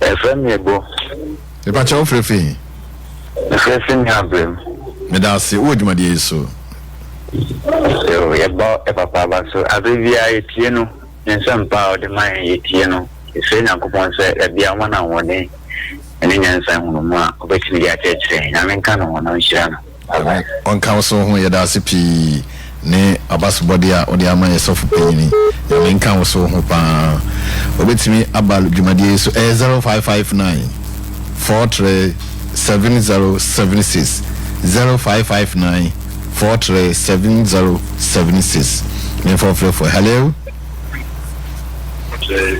Ɛfrɛ me Ebo. Mepa kyɛ wofrɛ fi he? Mefrɛ fi me abrɛ mu. Meda ase wowɔ dwumadie yi so. Yo, yɛbɔ ɛpapa aba so. Aberɛ biara yɛtie no, ne nsɛmpa a ɔde ma yɛn yɛtie no. Yɛsrɛ Nyankopɔn sɛ dabiaa ɔma no ahoɔden ne nyansa hunu mu a ɔbɛtumi de akyerɛkyerɛ yɛn. Nyame nka ne ho na ɔnhyira no. Awurade ɔnka wo so ho yɛda ase pii ne abasobɔde a wode ama yɛ sɔfo panyini nyame nka wo so ho paa obetumi aba dwumadie yi so ɛyɛ zero five five nine four three seven zero seven six zero five five nine four three seven zero seven six ne nfɔfrɛfoɔ hello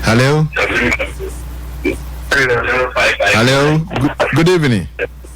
hello hello good evening.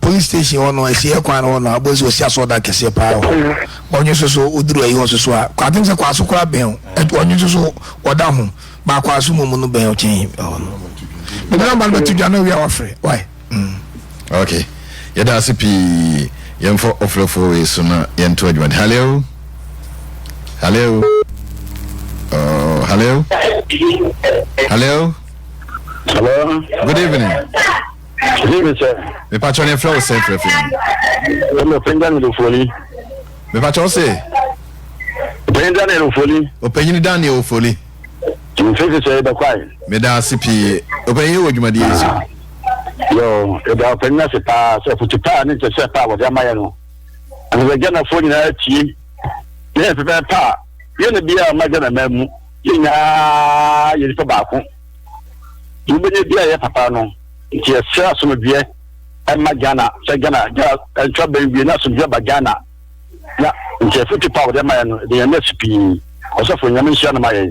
Police station hɔ no asieɛ kwan no hɔ no abɔsi wɔsi asɔɔ dan kɛseɛ paa wɔ hɔ ɔnwo nso so woduru ayi hɔ nso so a kɔ atem sɛ kwaso koraa bɛn o ɛto ɔnwo nso so wɔda ho baa kwaso mu mu no bɛn o kyɛn ɛhɔ no bɛbi na ɔma no bɛto dwa na owia wafrɛ wae mm. ok yɛda ase pii yɛmfa ɔfrɛfoɔ wei so na yɛnto adwuma hallo hallo oh, hallo hallo hello good evening Sisi mi sɛ. Mepatwɔ ne frɛ wo sɛ frɛ fɛ mu. Ɛna ɔpɛngya ne lofoli. Mepatwɔ se. Ɔpɛnyini Daniel Ofoli. Ɔpɛnyini Daniel Ofoli. Sisi sɛ ɛbɛ kwae. Meda ase pii. Ɔpɛnyini wɔ dwumadie yi so. Yo, ɛda ɔpɛnyini ase paa sɛ ɔfutu paa ne nkyɛsɛ paa wɔde ama yɛ no. Ɛna sɛ gyanafoɔ nyinaa tie. Yɛn pɛpɛ paa. Yɛn na biara ma gyana mmaa mu. Yɛn nyinaa yɛ nipa baako. deɛ wobɛnya biara yɛ papa no nti yɛsrɛ asomdwoeɛ ɛma Ghana sɛ Ghana Ghana ntra bɛn wie na asomdwoeɛ ba Ghana na nti afutu pa a wɔde ma yɛn no ɛde yɛn nɛ si pii ɔsɔfo nyame nhyira no ma yɛn.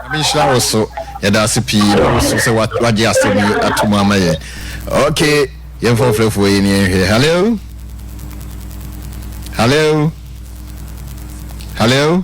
Nyame nhyira wo so yɛda ase pii ma wo so sɛ wagye asɛm yi ato mu ama yɛn ok yɛmfa ɔfrɛfoɔ yi ne yɛnhwɛ hello hello hello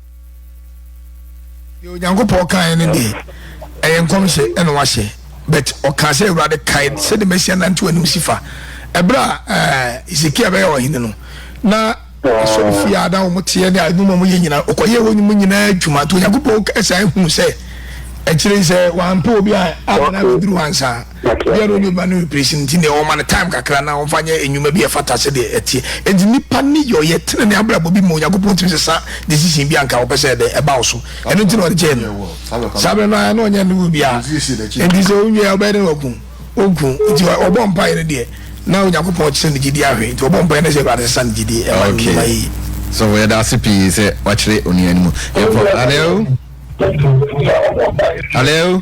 deɛ onyankopɔn kaeɛ no deɛ ɛyɛ nkɔmhyɛ ɛna wahyɛ but ɔkaa sɛ awurade kae sɛde masia nante w'anim si fa ɛberɛ a eh, hesekia bɛyɛ ɔhene no na asɔre fie a na wɔn teɛ ne adwuma wɔn yɛ nyinaa ɔkɔyɛ wɔn mu nyinaa adwuma nti onyankopɔn ɛsan hunu sɛ akyire sɛ wampɛ obi a amena bɛduru ansa Bia na ɔnyi ba no replacing nti neɛ ɔma no time kakra na ɔmfa nyɛ nnwuma bi a ɛfata sɛdeɛ ɛteɛ. Enti nnipa ne yɛ ɔyɛ tenenee abrabɔ bi ma Onyankopɔn tumi sesa decision bi a nka ɔpɛ sɛ ɛdɛn ɛba wo so. Ɛno nti na ɔde kyɛɛ no saa berɛ no ara na ɔnyɛ ne wɔ biara. Enti sɛ ɔnwie a wobɛyɛ dɛn waku wo? Ɔnku. Enti ɔbɔɔ mpaeɛ no deɛ na Onyankopɔn rekyerɛ no gyedie ahwɛ nti ɔbɔɔ mpaeɛ na sɛ Awurade sesa ne gyedie ɛma no nnwuma yie. Sɔfo yɛda ase pii sɛ wakyerɛ onua no mu. Yɛkɔ. Hello? Hello?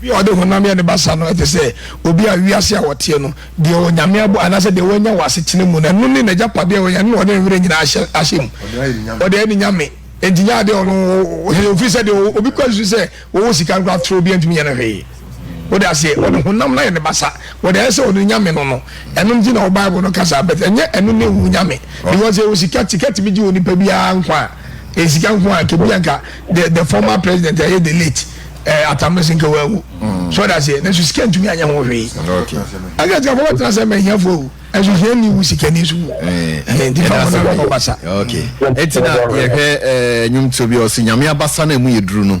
Obi a ɔde honam yɛ ne basa no te sɛ obi a wiase a ɔteɛ no, deɛ Onyame abɔ anaasɛ deɛ wanya wɔ asetena mu no, ɛno ne n'agyapadeɛ a ɔnya, ɛno na ɔde ne werɛ nyinaa ahyɛ ahyɛ mu. Ɔde ayɛ ne nyame. Enti nyɛ adeɛ a ɔno ɔwɔ, ɛfiri sɛ deɛ obi kura susu sɛ ɔwɔ sika no koraa, atorɔ, obiara ntumi nyɛ no hwee. Wode aseɛ? Ɔde honam no ayɛ ne basa. Ɔde ayɛ sɛ ɔno nyame no no. Ɛno nti na wo bible no ka saa but ɛnyɛ ɛno ne wo nyame because ɛwɔ sika, sika tumi gye onipa biara nkwa a, ɛyɛ sika nko a, nka bi a nka the, the former president ɛyɛ the late eh, atamese nka wawu. So ɔde aseɛ, nanso sika ntumi anyɛ ho hwee. Ɛka sika fɔwɔ tena sɛ mɛ hiafo o, ɛnso hia ni wu sika ni so wu. Nti fa wɔn na wɔn basa. Okay. Ɛti na yɛhwɛ ɛɛ nnwomtuo bi a ɔsi nyame abasa na emu yɛ duru no.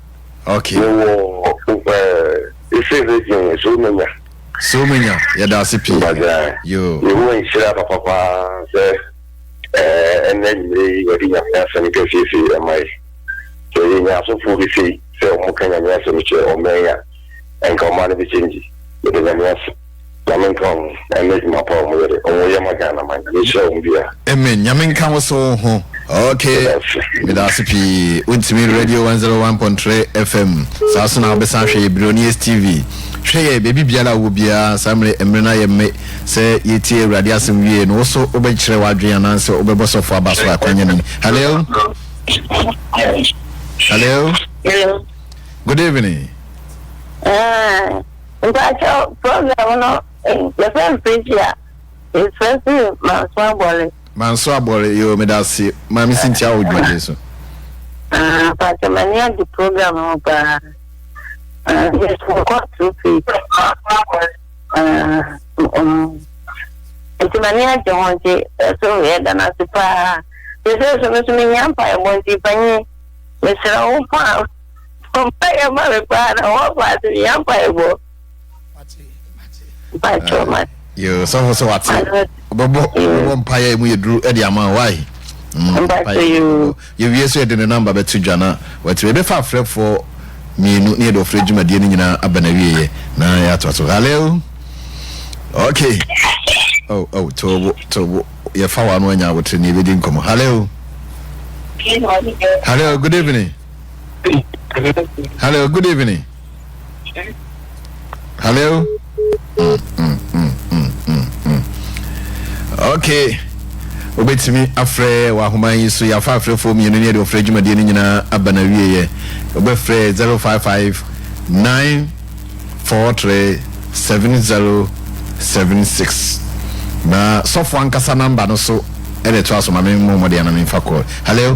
Okay. Mewɔ eh, efe virgin yɛ so menya. So menya yɛda ase pii. Mbagyaa. Yo. Yehowa nhyira papa paa sɛ eh, ɛnna enyimire yi wɔde nyame asɛm kɛseɛ sei ɛma yɛ. Sɛ yɛnya asɔfoɔ bi sei sɛ wɔn ka nyame asɛm kyerɛ ɔman yi a, ɛnka ɔman no bɛ change. Yɛda nyame ase. Nyame nka wo ho ɛne Jumapɔ ɔmo yere ɔmo yɛ ma Ghana man Nyame nhyira ɔmo biaa. Amen Nyame nka wo so wo ho. Ok medase pii wontimi radio 101.3 FM saa so na wobɛsan ahwɛ yɛ Billionaires TV hwɛ yɛ baabi biara a wɔ biara saa mmerɛ mmerɛ no ayɛ mme sɛ yɛtie awurade asɛm wie no wo so wobɛkyerɛ w'adwene anaasɛ wobɛbɔ sɔfo aba so akwanya nim hello hello good evening ah. Mpakyɛw program no yɛfrɛ no preachi a yɛfrɛ firi manso abɔre. Manso abɔre yoo medase ma me sintia wo dwumadie so. Ah mpakyɛw m'ani agye program no ho paa ah yɛsɛ kɔ through faith ah um nti m'ani agye ho nti ɛso yɛda no ase paa yɛsɛ so me so mehia mpaebɔ nti panyin mesrɛ wo paa. Bɔ mpaeɛ ma me paa na wɔn fa ase yɛ mpaebɔ. Mpakyɛw ma. Yo sɔfo sɛ wate. Ɔbɛbɔ ɔbɛbɔ mpaeɛ emu yɛ duru ɛde ama why. Mpakyɛw yoo. Yɛ wie so yɛde ne namba bɛto dwa na watumi ɛbɛfa afrɛfoɔ mmienu ne yɛde ɔfrɛ dwumadie no nyinaa aba na wieɛ na yɛatoa so. Haleo. Okay. Oh oh tobo tobo yɛfa wa no anya awotire ne yɛbɛdi nkɔmɔ. Haleo. Hello, good evening. Hello, good evening. Hello. Mm, mm, mm, mm, mm, mm. Okay. wobɛtumi afrɛ wahoma yi so yɛafa afrɛfoɔ mmienu ne ɛde ɔfrɛ dwumadie no nyinaa aba no awieɛ wobɛfrɛ 055 943 7076 na sɔfo ankasa namba no so ɛde to aso ma me mmɔmmɔdeɛ na memfa kɔɔ hello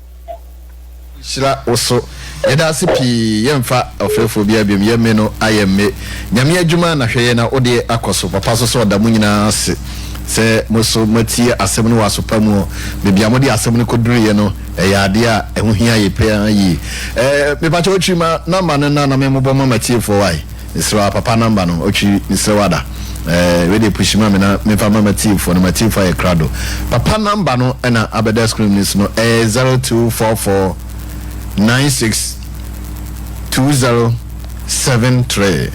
nhyira wo so yɛda ase pii yɛnfa ɔfrɛfoɔ biaa biom yɛ me no ayɛ mme nyame adwuma na hwɛ yɛ na wodeɛ akɔ so papa so sɛ ɔda mo nyinaa ase sɛ mo so moatie asɛm no wɔ asopa muɔ baabi a mode asɛm no kɔduruiɛ no ɛyɛ adeɛ a ɛho hia yɛ paa yie ɛɛ mepakyɛ wo kyirima number no na na me mobɔ ma matiefoɔ wae Mesrɛ wo papa number no otwi mesrɛ wo ada eh wei deɛ pushi ma me na menfa ma matiefoɔ no matiefoɔ ayɛ krado papa number no ɛna abɛda screen no so no ɛyɛ zero two four four nine six two zero seven three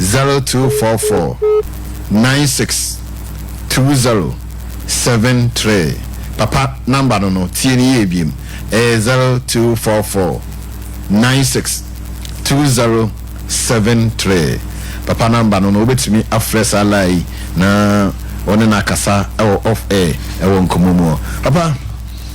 zero two four four nine six two zero seven three papa number no no tie no yie biem ɛyɛ zero two four four nine six two zero seven three papa number no no wobɛtumi afrɛ saa line yi na wɔne no akasa ɛwɔ off air ɛwɔ nkɔmmɔ mu hɔ papa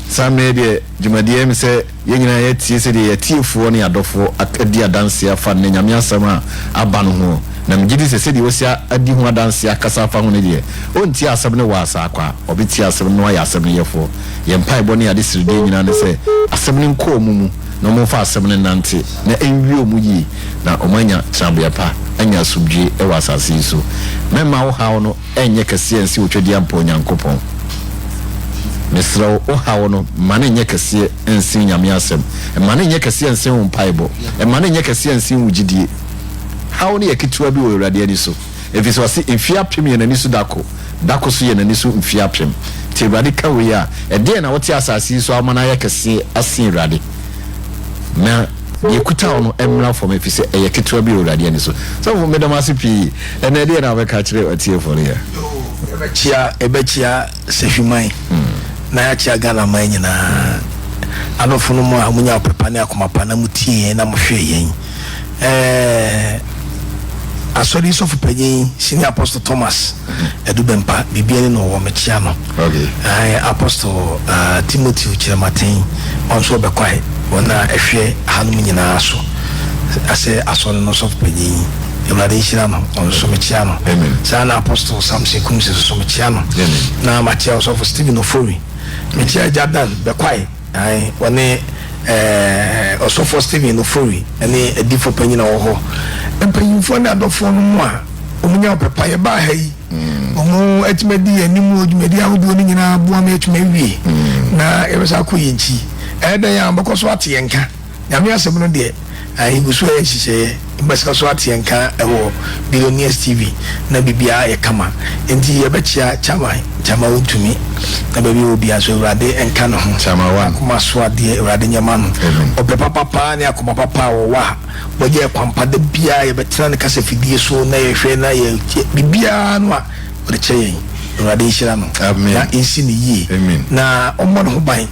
saa mmerɛ deɛ dwumadeɛ me sɛ yɛn nyinaa yɛatie sɛdeɛ yɛatiefoɔ ne adɔfoɔ adi adanseɛ afa nnɛ nyame asɛm a aba no ho na megye di sɛ sɛdeɛ wɔsi adi ho adanseɛ akasa afa ho no deɛ ɔntie asɛm no wɔ asaa kwa ɔbɛtie asɛm no ayɛ asɛm no yɛfoɔ yɛn mpaebɔ ne ade seredeɛ nyinaa ne sɛ asɛm no nkɔɔ mu mu na wɔmfa asɛm no nnante na ɛnwie wɔn yie na wɔanya tenabea pa, anya asomdwoeɛ wɔ asase yi so. Mɛmma wo haw no nyɛ kɛseɛ ansi wo twɛdeɛ mpa Onyankopɔn. Mesrɛ wo, wo haw no, mma no nyɛ kɛseɛ nsen Nyame Asɛm. Mma no nyɛ kɛseɛ nsen wo mpaebɔ. Mma no nyɛ kɛseɛ nsen wo gyidie. Haw no yɛ ketewa bi wɔ Awurade ani so. Efisɛ ɔse, Mfie apem yɛ n'ani so da ko, da ko so yɛ n'ani so mfie apem. Nti Awurade ka wei a, ɛdeɛn na wote asase yi so a woma no ayɛ kɛseɛ asen Awurade? Na deɛ ɛkuta wo no mmra fam, efisɛ ɛyɛ ketewa bi wɔ Awurade ani so. Sɔfo, meda mo ase pii. Ɛnnɛ ɛdeɛn na wobɛka akyerɛ atiefoɔ no yɛ? Yɛbɛkyea, yɛbɛkyea Sahwiman na yɛakyea Ghana man nyinaa. Adɔfo no mo a monya ɔpɛ pa ne akoma pa na motie yɛn na mohwɛ yɛn. eh, asɔre sɔfo panyin senior apostle thomas adubɛmpa biribia ne na ɔwɔ mekyea no eh, apostle uh, timothy kyerɛmaten ɔn so ɔbɛkwae wɔn a ɛhwɛ hanom nyinaa so asɛ asɔre no sɔfo panyin awurade nhyira no ɔno nso mekyea no saa na apostle samson kumsi nso mekyea no na makyea ɔsɔfo stephen ofori mekyea agya dan bɛkwae Ae, wɔne eh, Ɔsɔfoɔ Stephen Ofori ne Adiifoɔ Panyin a ɔwɔ hɔ, mpanyinfoɔ ne adɔfoɔ no mo a wɔn nya ɔpɛ pa. Yɛbaa ha yi, wɔn mm. atumi adi yɛn anim wɔ dwumadi ahodoɔ no nyinaa aboa ma yɛatumi awie, mm. na yɛbɛsa akɔ yɛn nkyi. Ɛyɛ dɛn a wɔbɛkɔ so ate yɛn nka? Nyame Asɛm no deɛ yɛguso yɛ nhyehyɛeɛ mbɛsa so ateɛ nka wɔ Billionaires TV na biribiara ayɛ kama nti yɛbɛkyea Chairman Gyama Wontumi na baabi ɔwɔ biara nso Awurade nka ne ho N'akoma so adeɛ Awurade nyɛ ma no ɔpɛ papa paa ne akoma papa a ɔwɔ a wagya yɛ kwampa da biara yɛbɛtena ne kasa fidie so na yɛhwɛ na yɛ biribiara no a ɔde kyɛ yɛn Awurade nhyira no na nsi no yie na ɔmmɔ ne ho ban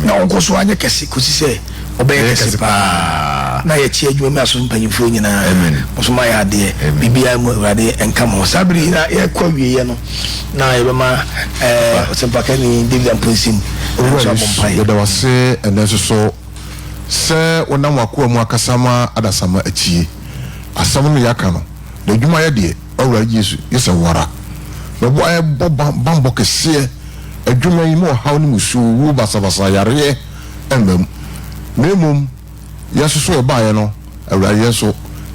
na ɔnkɔ so anyɛ kɛse kɔsi sɛ ɔbɛyɛ kɛse paa na yɛkye adwuma mu aso mpanyimfoɔ nyinaa nso ma yɛ adeɛ biribiara mu awurade nka mo saa bere nyinaa yɛkɔ awieɛ no na yɛbɛma ɔsɛmpakani david ampo nsɛm nso abɔ mpae yɛda wase ɛnɛ nso so sɛ wonam wakoa mu akasa ma adasama atie asɛm no yɛaka no na adwuma yɛ deɛ ɔwura yesu yɛ sɛ wara bɛboa yɛbɔ bambɔ kɛseɛ adwuma yi mu ɔhaw no mu su, owu, basabasa, yareɛ mmam, na mmom yɛn nso so ɛbaeɛ no, Awurade yɛn nso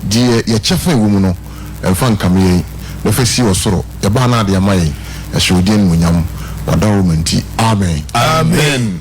deɛ yɛ kyɛfa ɛwɔ mu no, mfa nkame yɛn, na fa si wɔ soro, yɛbaa no ade ama yɛn, ɛhyɛ wo din animuonyam, w'adawuroma nti. Amen. Amen.